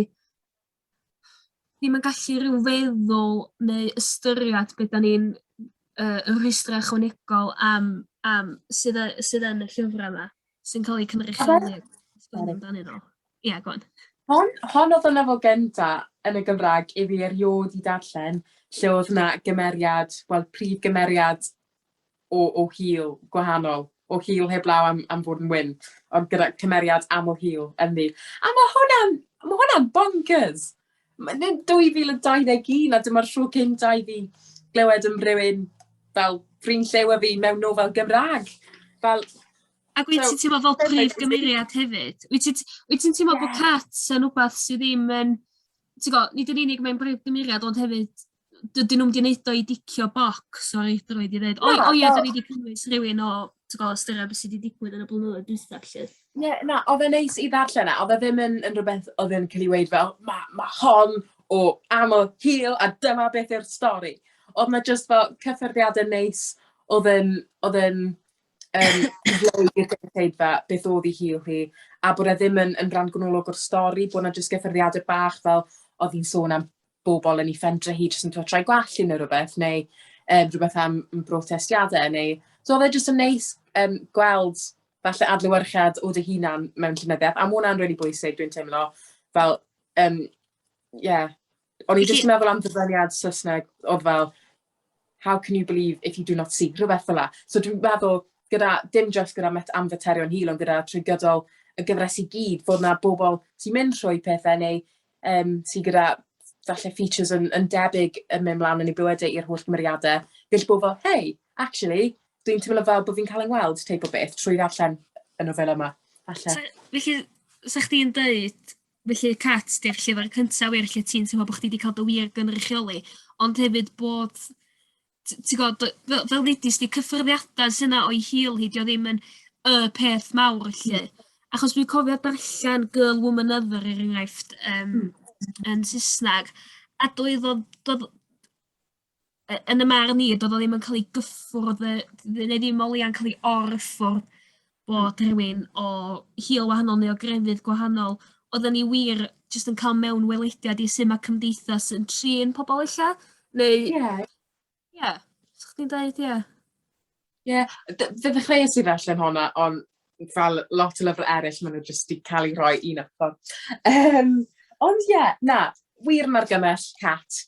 ddim yn gallu rhyw feddwl neu ystyried beth da ni'n uh, rhwystrau chwanegol am, am sydd, sydd yn y llyfrau yma. sy'n cael eu cynrychioli amdanyn nhw. Ie, yeah, gwan. Hon, hon oedd y lefel gynta yn y Gymraeg i fi erioed i darllen lle oedd yna gymeriad, wel, prif gymeriad o, o hil gwahanol, o hil heblaw am, am fod yn wyn, ond gyda cymeriad aml hil ynddi. A mae hwnna'n ma hwnna bonkers! Mae'n 2021 a dyma'r tro cynta i fi glywed am rywun fel ffrind llew a fi mewn nofel Gymraeg. Fel, Ac wyt ti'n teimlo fel prif gymeriad hefyd? Wyt ti'n wyt ti'n teimlo bod Cats yn wbath sydd ddim yn ti'n gwybod, nid yn unig mae'n brif gymeriad ond hefyd dydyn nhw'n mynd neud o i dicio boc, sori, dwi'n rhaid i ddweud. O, o ie, dyn ni wedi cynnwys rhywun o, ti'n gwybod, styried beth sydd wedi digwydd yn y blynyddoedd dwi'n felly. Ie, na, oedd e'n neis i ddarllen e, oedd e ddim yn, yn rhywbeth oedd e'n cael ei weid fel, mae ma hon o aml hil a dyma beth yw'r stori. Oedd na just fel cyffyrddiadau neis, oedd e'n, oedd e'n, um, i'r gynulleidfa beth oedd ei hil hi, a bod e ddim yn, yn rhan gwynolog o'r stori, bod yna jyst gyffyrddiadau bach fel oedd hi'n sôn am bobl yn ei phendre hi jyst yn trio troi gwallt hi neu rhywbeth, neu um, rhywbeth am brotestiadau, neu... So oedd e jyst yn neis um, gweld falle adlywyrchiad o dy hunan mewn llenyddiaeth, a mae hwnna'n really bwysig, dwi'n teimlo, fel, um, yeah. O'n i jyst yn meddwl am ddyfyniad Saesneg, oedd fel, how can you believe if you do not see, rhywbeth fel la. So dwi'n meddwl, gyda, dim jyst gyda met, am faterion hil, ond gyda trwy gydol y gyfres i gyd, fod yna bobl sy'n mynd trwy pethau neu um, sy'n gyda falle features yn, yn debyg yn mynd mlaen yn ei bywydau i'r holl gymeriadau, gall bod fel, hey, actually, dwi'n teimlo fel bod fi'n cael yng ngweld teip o beth trwy ddarllen y nofel yma. Falle. So, felly, sa chdi'n dweud Felly Cat 'di'r llyfyr cynta wir lle ti'n teimlo bo' chdi 'di ca'l dy wir gynrychioli ond hefyd bod t- ti gweld dy- fel fel ddeudist di cyffyrddiada sy 'na o'i hil hi 'di o ddim yn y peth mawr felly. Achos dwi'n cofio darllen Girl, Woman, Other er enghraifft yym yn Saesneg a doedd o do'dd y- yn y marn i do'dd o ddim yn ca'l 'i gyffwrdd yy ne' ne' ddim o leia'n ca'l 'i or-ffordd bod rhywun o hil wahanol neu o grefydd gwahanol oddan ni wir jyst yn ca'l mewn welediad i su' ma' cymdeithas yn trin pobol ella neu... Ie. ...ie. Sa chdi'n deud ie? Ie, d- fe ddechreuais i ddarllen honna, ond fel lot o lyfrau eraill, maen nhw jyst wedi cael eu rhoi i un ochr. Um, ond ie, yeah, na, wir yn argymell cat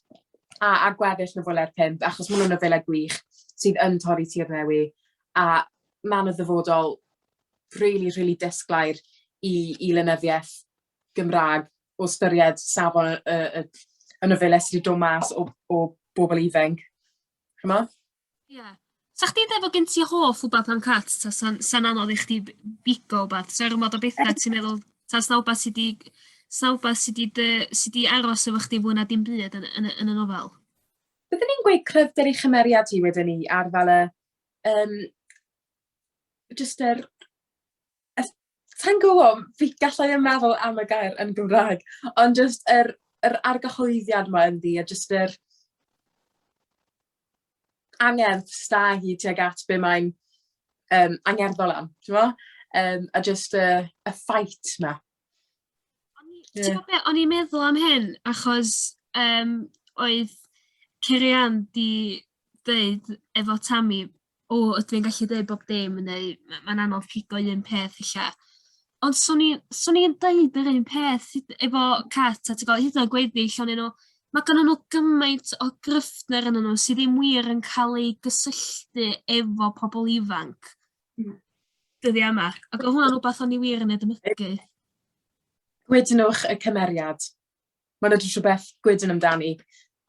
a, a gweddill na fwyle'r pimp, achos maen nhw'n nofelau gwych sydd yn torri tir newi, a maen nhw'n ddyfodol really, really disglair i, i lenyddiaeth Gymraeg o styried safon y, y, y, y nofelau sydd wedi dod mas o, o bobl ifanc. Chyma? Ie. 'Sech chdi'n deud bo' gen ti hoff wbath am cats ta sa'n sa'n anodd i chdi b- bigo wbath 'sa ormod o betha ti'n meddwl ta sna wbath sy 'di sna wbath sy 'di dy sy 'di aros efo chdi fwy na dim byd yn y yn y yn y nofel? Byddwn i'n gweud cryfder ei chymeriad hi wedyn 'ny ar fel y yym jyst yr Sa i'n gwybod, fi... galla i ddim meddwl am y gair yn Gymraeg, ond jyst yr yr argyhoeddiad 'ma ynddi a jyst yr angerdd sy 'da hi tuag at be mae'n yym angerddol am, timod? Yym a jyst y y fight 'na. O'n i... Ie. ...T'mo' be' o'n i'n meddwl am hyn achos yym oedd Ceri-Anne 'di deud efo Tammy o ydw i'n gallu deud bob dim neu ma' ma'n anodd pigo un peth ella. Ond swn i swn i'n deud yr un peth hyd- efo cats a ti gwel hyd yn o'd gweddill onyn nw ma' gynnyn nw gymaint o gryfder ynnyn nw sy ddim wir yn ca'l eu gysylltu efo pobol ifanc. Hmm. Dyddia' yma. Ag o' hwnna'n wbath o'n i wir yn ei dymugu. Gwydnwch y cymeriad. Mae 'na jyst rhywbeth gwydn amdani.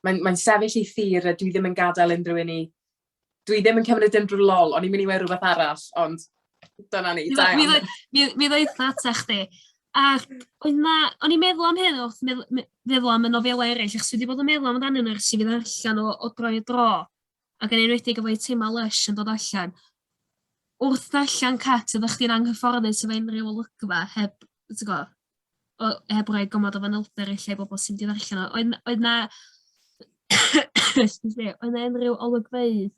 Mae'n mae'n sefyll i thir a dwi ddim yn gadael unrhyw un i... Dwi ddim yn cymryd unrhyw lol, o'n i'n mynd i weud rhywbeth arall, ond dyna ni, da iawn. Mi ddweud- mi mi ddaeth o ata chdi. Ac oedd 'na... o'n i'n meddwl am hyn wrth medd- me- feddwl am y nofelau eraill achos dwi 'di bod yn meddwl amdanyn nhw ers i fi ddarllen o o dro i dro ac yn enwedig efo Eitemau Lysh yn dod allan. Wrth ddarllen Cat oeddach chdi'n anghyfforddus efo unrhyw olygfa heb t'go' o heb roi gymod o fanylder i lle bobl sy'n mynd allan o. Oedd oedd 'na excuse me oedd 'na unrhyw olygfeydd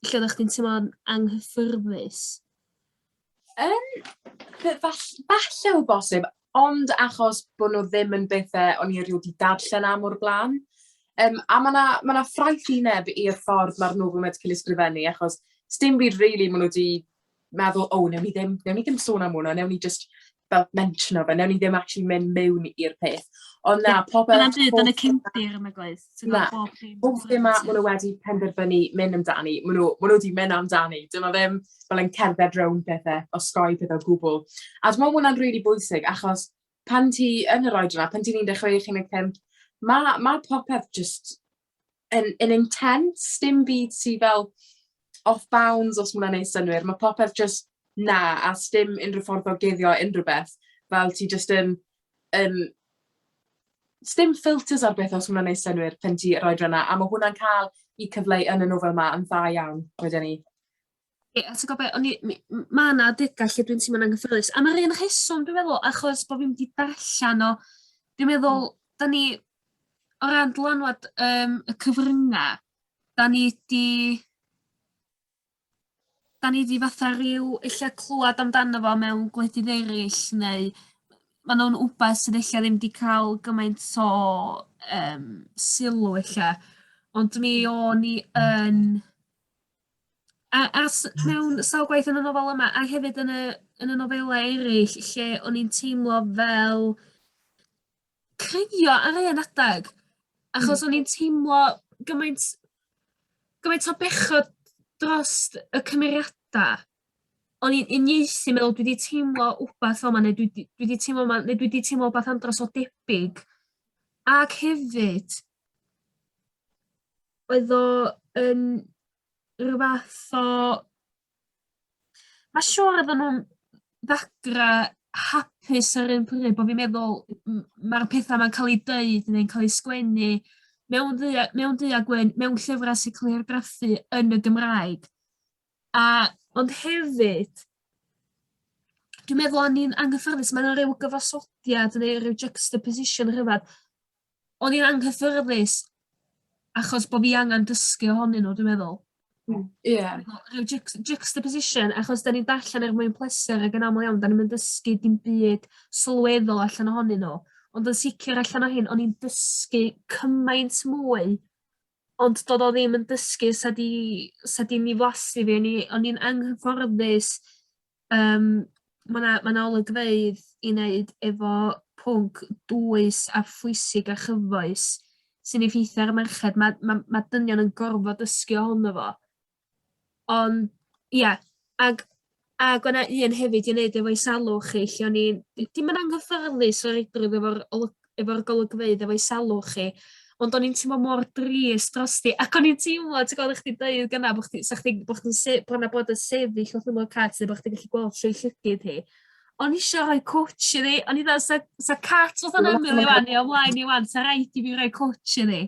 lle oddach chdi'n teimlo'n anghyffyrddus? Yym fe- fall- falle o bosib ond achos bod nhw ddim yn bethe o'n i erioed 'di darllen am o'r blaen. Yym a ma' 'na ma' 'na ffraethineb i'r ffordd ma'r nofel 'ma 'di ca'l ei sgrifennu achos sdim byd rili ma' nw 'di meddwl, o, newn ni ddim, newn ni ddim sôn am hwnna, newn ni just fel mentiono fe, newn ni ddim actually mynd mewn i'r peth. Ond na, pobl... Dyna dyd, yn y cyndir yn y gwaith. Na, pob ddim ma, maen nhw wedi penderfynu mynd amdani, maen nhw, maen nhw wedi mynd amdani. Dyma ddim fel yn cerdded rownd pethau, o sgoi pethau o gwbl. A dwi'n meddwl hwnna'n rili really bwysig, achos pan ti yn yr oed yna, pan ti'n 16, 15, mae ma popeth just yn yn intense dim byd sy fel off bounds os ma wnna'n neud synnwyr ma' popeth jyst 'na a sdim unryw ffordd o guddio unryw beth fel ti jyst yn yn sdim filters ar beth os ma wnna'n neud synnwyr pan ti roid e 'na a ma' hwnna'n ca'l 'i cyfleu yn y nofel 'ma yn dda iawn wedyn 'ny. Ie a ti gwbo be' o'n i mi- m- ma' 'na adega lle dwi'n teimlo'n anghyffyrddus am yr un rheswm dwi meddwl achos bo' fi'm 'di darllan o dwi'n meddwl 'dan ni o ran dylanwad yym y cyfrynga 'dan ni 'di 'dan ni 'di fatha ryw ella clŵad amdano fo mewn gwledydd eryll neu ma' nw'n wbath sydd ella ddim 'di ca'l gymaint o yym sylw ella ond mi o'n i yn A, a s- mewn sawl gwaith yn y nofel yma, a hefyd yn y, yn y nofelau eraill, lle o'n i'n teimlo fel creio ar un adeg. Achos mm. o'n i'n teimlo gymaint, gymaint o bechod dros y cymeriadau. o'n i'n uniaethu me'wl dwi 'di teimlo wbath fel 'ma ne' dwi 'di dwi 'di teimlo 'ma ne' dwi 'di teimlo wbath andros o debyg ac hefyd oedd o yn rw fath o ma' siŵr oddan nw'n ddagra hapus ar un pryd bo' fi'n meddwl m- ma'r petha 'ma'n ca'l 'u deud neu'n ca'l 'u sgwennu mewn ddu- mewn du a gwyn mewn llyfra' sy ca'l 'u argraffu yn y Gymraeg. A ond hefyd dwi'n meddwl o'n i'n anghyffyrddus ma' 'na ryw gyfansoddiad ne' ryw juxtaposition rhyfedd o'n i'n anghyffyrddus achos bo' fi angan dysgu ohonyn nw dwi meddwl. Hmm ie. Rhyw jux- juxtaposition achos 'dan ni'n darllen er mwyn pleser ag yn amal iawn 'dan ni'm yn dysgu dim byd sylweddol allan ohonyn nw ond yn sicir allan o hyn o'n i'n dysgu cymaint mwy Ond do'dd o ddim yn dysgu sa 'di sa 'di mi flasu fi o'n i o'n i'n anghyfforddus yym ma' 'na ma' 'na olygfeydd i neud efo pwnc dwys a phwysig a chyfoes sy'n effeithio ar y merched ma' ma' ma' dynion yn gorfod dysgu ohono fo. Ond ia ag ag o' 'na un hefyd i neud efo'i salwch chi lle o'n i'n d- dim yn anghyffyrddus o reidrwydd efo'r olwg- efo'r golygfeydd efo'i salwch hi ond o'n i'n teimlo mor drist drosti ac o'n i'n teimlo ti g'od o' chdi deud gyna' bo' chdi 'sa chdi bo' chdi'n se- bo' 'na bod yn sefyll wrth ymyl cat ne' bo' chdi gallu gweld trwy llygid hi. O'n i isio rhoi cwtsh iddi o'n i fel 'sa 'sa cat fatha'n ymyl i ŵan ia o flaen i ŵan 'sa raid i fi roi cwtsh iddi.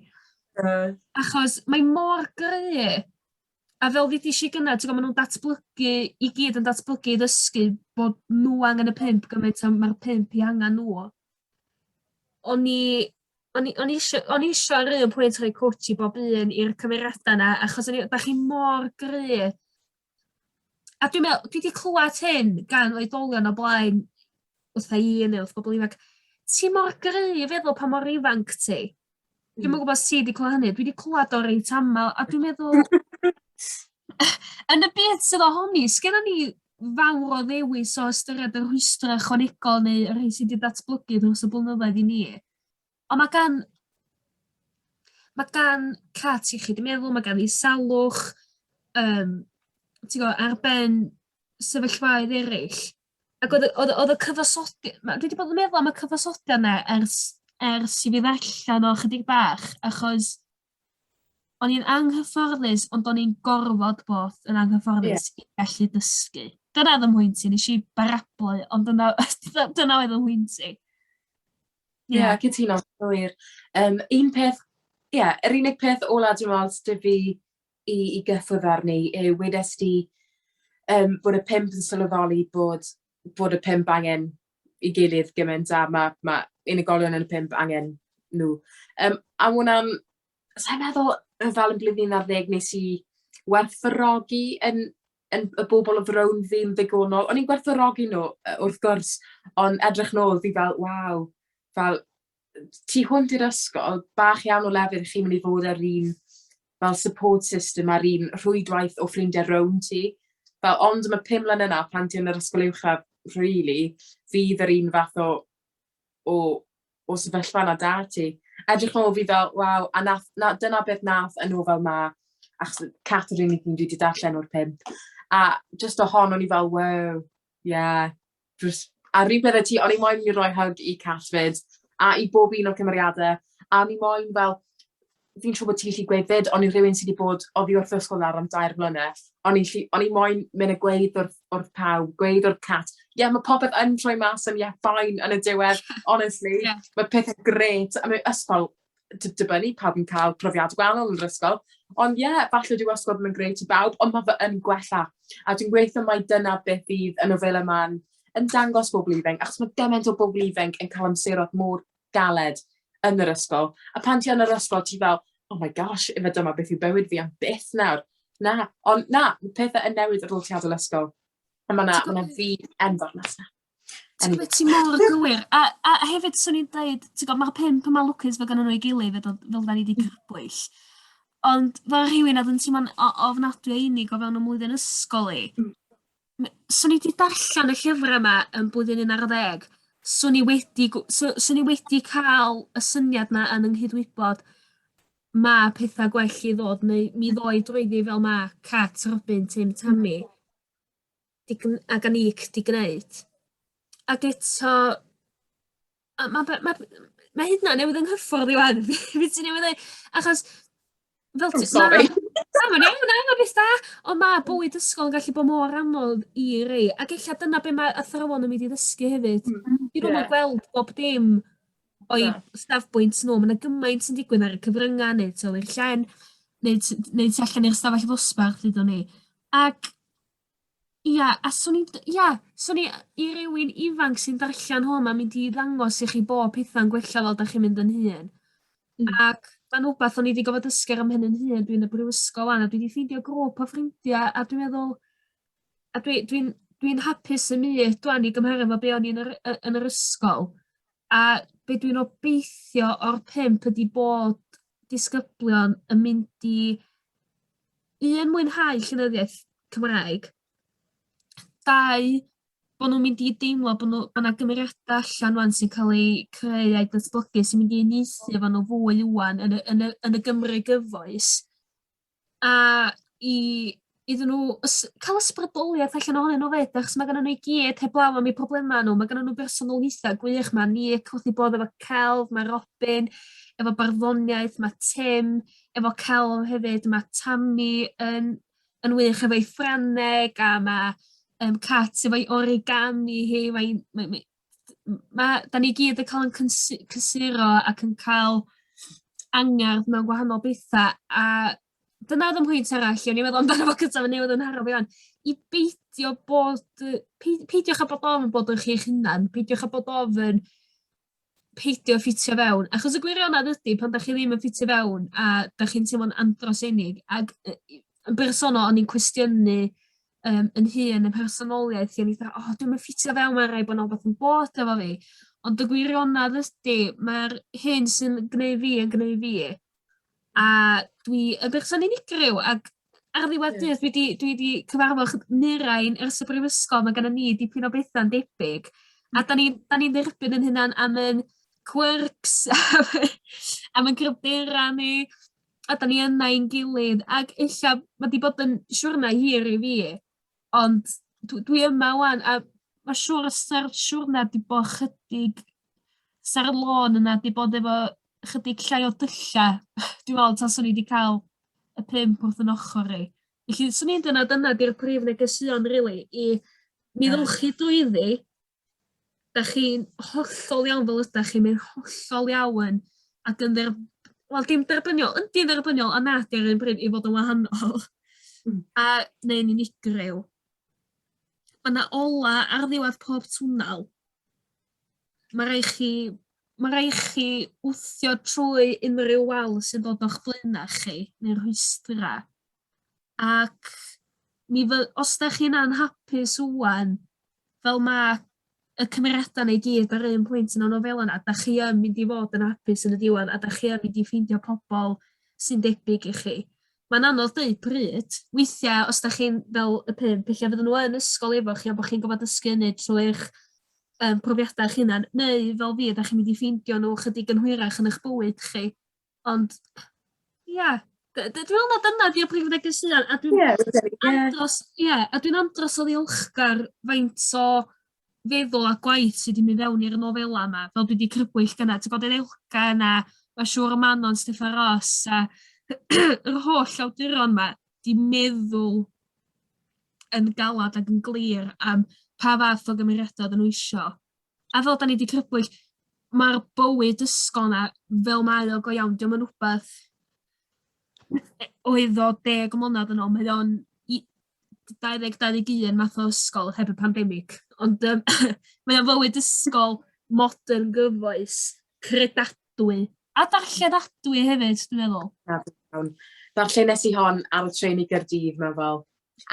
Yy. Achos mae mor gry'. A fel ddedes i gynne t'go' ma' nw'n datblygu i gyd yn datblygu i ddysgu bod nw angen y pump gymaint a ma'r pump 'u hangan nw. O'n i o'n i o'n i isio o'n i isio ar un pwynt rhoi cwtsh i bob un i'r cymeriada 'na achos o'n i 'dach chi mor gry'. A dwi'n meddwl, dwi wedi clywed hyn gan oedolion o blaen, wrth ei un neu wrth bobl ifanc, ti mor gryf efo pa mor ifanc ti. Dwi'n meddwl gwybod ti wedi clywed hynny, dwi wedi clywed o reit aml, a dwi'n meddwl... yn y byd sydd ohoni, sgynna ni fawr o ddewis o ystyried y rhwystrau chwanegol neu y rhai sydd wedi datblygu dros y blynyddoedd i ni. Ond mae gan mae gan cats iechyd meddwl, mae gan i salwch, um, ti'n gwybod, ar ben sefyllfaoedd eraill. Ac oedd, oedd, oedd y cyfasodi... Dwi wedi bod yn meddwl am y cyfasodi yna ers, ers i fi ddallan o chydig bach, achos o'n i'n anghyfforddus, ond o'n i'n gorfod bod yn anghyfforddus yeah. i gallu dysgu. Dyna oedd yn hwynt i, nes i barablu, ond dyna, dyna oedd yn hwynt i. Ie, yeah, cytuno, wir. Um, un peth, ie, yeah, yr unig peth ola dwi'n meddwl sydd fi i, i gyffwrdd arni yw wedes di um, bod y pimp yn sylweddoli bod, bod y pimp angen i gilydd gymaint a mae ma unigolion yn y pimp angen nhw. Um, a hwnna'n, sa'n meddwl, fel yn blwyddyn ar ddeg nes i werthfawrogi yn yn y bobol o'dd rownd fi yn ddigonol o'n i'n gwerthfawrogi n'w yy wrth gwrs on' edrych nôl fi fel waw fel yy tu hwnt i'r ysgol bach iawn o lefydd chi myn' i fod â'r un fel support system a'r un rhwydwaith o ffrindie rownd ti. Fel ond am y pum mlyne 'na pan ti yn yr ysgol uwchradd rili fydd yr un fath o o o sefyllfa 'na 'da ti. Edrych nôl fi fel waw a nath 'na dyna beth nath y nofel 'ma achos yy Cat yw'r unig un dwi 'di darllen o'r pump a jyst o hon o'n i fel wow ie jyst a'r un peth â ti o'n i moyn myn' i roi hug i Cat 'fyd a i bob un o'r cymeriade a o'n i moyn fel fi'n siŵr bod ti'n gallu gweud 'fyd, ond i rhywun sydd wedi bod oddi wrth ysgol nawr am dair blynedd, o'n i'n gallu... o'n i moyn mynd a gweud wrth wrth pawb, gweud wrth Cat, "Ie, mae popeth yn troi mas yn ie, fine" yn y diwedd, honestly... Ie. ...ma' pethe grêt, a mewn ysgol, d- dibynnu, pawb yn cael profiadau gwahanol yn yr ysgol, ond ie, falle dyw ysgol ddim yn grêt i bawb, ond ma' fe yn gwella, a dwi'n gweitho mai dyna beth fydd y nofela 'ma'n yn dangos bobl ifanc, achos ma' gymaint o bobl ifanc yn cael amseroedd mor galed yn yr ysgol. A pan ti yn yr ysgol, ti fel, oh my gosh, efe dyma beth yw bywyd fi am byth nawr. Na, ond na, mae pethau yn newid ar ôl ti adael ysgol. A mae yna ma, na fi enfawr mas na. Ti'n gwybod, ti mor gywir. A, a hefyd, swn i'n dweud, ti'n gwybod, mae'r pimp yma lwcus fe gynnu nhw i gilydd, fel, fel da ni wedi crybwyll. Ond fel rhywun oedd yn teimlo'n ofnadwy einig o fewn y mlwyddyn ysgol i, hmm. M- swn i 'di darllan y llyfra 'ma yn blwyddyn un ar ddeg swn i wedi gw- so swn i wedi ca'l y syniad 'na yn 'yng nghydwybod ma' petha gwell i ddod neu mi ddoi drwyddi fel ma' Cat, Robin, Tim, Tammy 'di gn- ag Annick 'di gneud. Ag eto A ma' fe ma' ma' hyd yn oed newydd 'y nghyffordd i ŵan be' ti newydd ddeu' achos fel ti... O sori. Na ma'n iawn na ma'n beth da on' ma' bywyd ysgol yn gallu bo' mor anodd i rei ac ella dyna be' ma' athrawon yn mynd i ddysgu hefyd. Hmm hmm. Dwi ddim yn gweld bob dim o'i safbwynt nw ma' 'na gymaint sy'n digwydd ar y cyfrynga ne' tu ol i'r llen neu t- neu tu allan i'r ystafell ddosbarth ddudwn i ac Ia, a swn i'n d- ia swn i yy i rywun ifanc sy'n darllan hwn ma'n mynd i ddangos i chi bo' petha'n gwella fel dach chi'n mynd yn hŷn. Hmm. Ac ma'n wbath o'n i 'di gofod dysgu ar 'y mhen 'yn hun dwi yn y brifysgol 'wan a dwi 'di ffeindio grŵp o ffrindia a dwi meddwl a dwi dwi'n dwi'n hapus 'yn myd dwan i gymharu 'fo be' o'n i yn yr y yn yr ysgol a be' dwi'n obeithio o'r pump ydi bod disgyblion yn mynd i un mwynhau llenyddiaeth Cymraeg, dau bo' nw'n mynd i deimlo bo' nw bo' 'na gymeriada allan rŵan sy'n ca'l eu creu a'u datblygu sy'n mynd i uniaethu efo nw fwy ŵan yn y yn y yn y Gymru gyfoes. a i iddyn nhw ys- cael ysbrydoliaeth allan ohonyn nhw 'fyd achos ma' gynnon nhw i gyd heblaw am eu problema nhw ma' gynnon nhw bersonoliaetha gwych 'ma Nik wrth 'i bodd efo celf ma' Robin efo barddoniaeth ma' Tim efo celf hefyd ma' Tami yn yn wych efo'i Ffrangeg a ma' yym Cat efo'i origami hi mae'n mae mae ma' 'dan ni gyd yn ca'l 'yn cynsi- cysuro ac yn ca'l angerdd mewn gwahanol betha a dyna odd 'yn mhwynt arall o'n i meddwl amdano fo cynta ma' newydd 'yn haro fi ŵan i beidio bod yy pei- peidiwch â bod ofn bod yn chi'ch hunan peidiwch â bod ofyn peidio ffitio fewn achos y gwirionedd ydi pan dach chi ddim yn ffitio fewn a dach chi'n teimlo'n andros o unig ag yy i- yn bersonol o'n i'n cwestiynu yym 'yn hun 'yn mhersonoliaeth i o'n i 'tha o dwi'm yn ffitio fewn ma' raid bo' 'na wbath yn bod efo fi. Ond y gwirionedd ydi ma'r hyn sy'n gneu fi yn gneu fi. A dwi yn berson unigryw ag ar ddiwadd dydd dwi 'di dwi 'di cyfarfo chy- murain ers y brifysgol ma' gennon ni dipyn o betha'n debyg a 'dan ni 'dan ni'n dderbyn 'yn hunan am 'yn quirks a fy- am 'yn gryfdera ni. a da ni yna i'n gilydd, ac ella mae wedi bod yn siwrna hir i fi, ond dwi, dwi yma wan, a mae siwr ystyr siwrna wedi bod chydig sa'r lôn yna, wedi bod efo chydig llai o dylla, dwi'n meddwl, tas o'n i wedi cael y pump wrth yn ochr i. Felly, swn i'n dyna, dyna di'r prif negesuon, really, i mi ddylchu dwyddi, 'dach chi'n hollol iawn fel ydach chi mae'n hollol iawn ac yn dderb- wel dim derbyniol yndi dderbyniol a na dim run bryd i fod yn wahanol. Hmm. A neu'n unigryw. Ma' 'na ola ar ddiwadd pob twnnel. Ma' rai' chi ma' rai' chi wthio trwy unrhyw wal sy'n dod o'ch blaena' chi neu'r rhwystra'. ac mi fy- os 'dach chi'n anhapus ŵan, fel ma' y cymeriada 'na i gyd ar un pwynt yn y nofela 'na, 'dach chi yn mynd i fod yn apus yn y diwedd a 'dach chi yn mynd i ffeindio pobol sy'n debyg i chi. Ma'n anodd deud pryd, weithia' os 'dach chi'n fel y pump ella fydden nhw yn ysgol efo chi a bo' chi'n gorfod dysgu hynny trwy'ch yym profiada 'ych hunan neu fel fi 'dach chi'n mynd i ffeindio nw chydig yn hwyrach yn 'ych bywyd chi. Ond ia d- d- dwi me'wl ma' dyna 'di y prif negeseuon a dwi'n... Ie fi'n credu ie. ...andros ie a dwi'n andros o ddiolchgar faint o feddwl a gwaith sy 'di myn' fewn i'r nofela 'ma fel dwi 'di crybwyll gyna ti bod yr elgan a ma' siŵr y Manon Steffan Ros a yr holl awduron 'ma 'di meddwl yn galad ac yn glir am pa fath o gymeriada oddan n'w isio A fel 'dan ni 'di crybwyll ma'r bywyd ysgol 'na fel mae o go iawn 'dio'm yn wbath yy oedd o deg mlynadd yn ôl mae o'n i- dau ddeg dau ddeg un math o ysgol heb y pandemic ond yym mae o'n fywyd ysgol modern gyfoes credadwy a darlledadwy hefyd dwi meddwl. Na dwi me'wl. Darllen nes i hon ar y trên i Gaerdydd mewn fel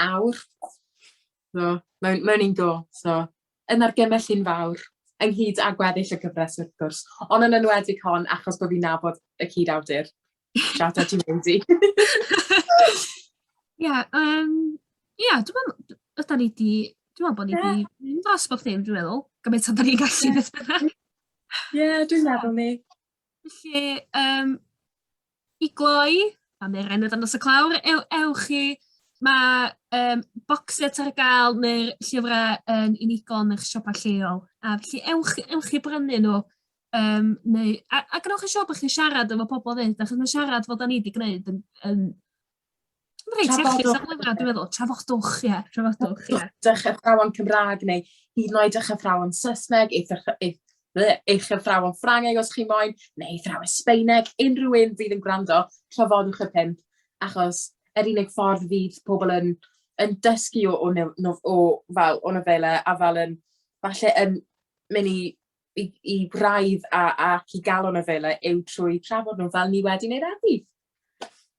awr. So mewn mewn un go so Yn argymell hi'n fawr, ynghyd â gweddill y gyfres wrth gwrs, ond yn enwedig hon achos bod fi'n nabod y cyd-awdur. Shout out to Wendy. Ie, um, ie, dwi'n meddwl, yda ni di, dwi'n meddwl bod ni di mynd dros bob dim, dwi'n meddwl, gymaint o'n ni'n gallu beth bynnag. Ie, dwi'n meddwl ni. Felly, um, I gloi, am yr enw dan nos y clawr, ew, ewch i Mae um, boxet ar gael neu'r llyfrau yn unigol yn eich siopa lleol. A felly ewch, ewch i brynu nhw. Um, neu, a, a gwnewch yn siŵr bod chi'n siarad efo pobl fyd, achos mae siarad fod ni wedi gwneud yn, yn Reit, iechyd Trafodwch. safle yma, dwi'n meddwl. Trafodwch, ie, trafodwch, ie. Dych athrawon Cymraeg neu hyd yn oed eich athrawon Saesneg, eich, ath- eich, ble- eich athrawon Ffrangeg os chi moyn, neu eich athrawon Sbeineg, unrhyw un fydd yn gwrando, trafodwch y pump, achos yr unig ffordd fydd pobl yn, yn dysgu o, o, nef- nof- o, fel, o nofelau a fel yn, falle yn mynd i, i, i braidd a, ac i gael o nofelau yw trwy trafod nhw fel ni wedi wneud heddi.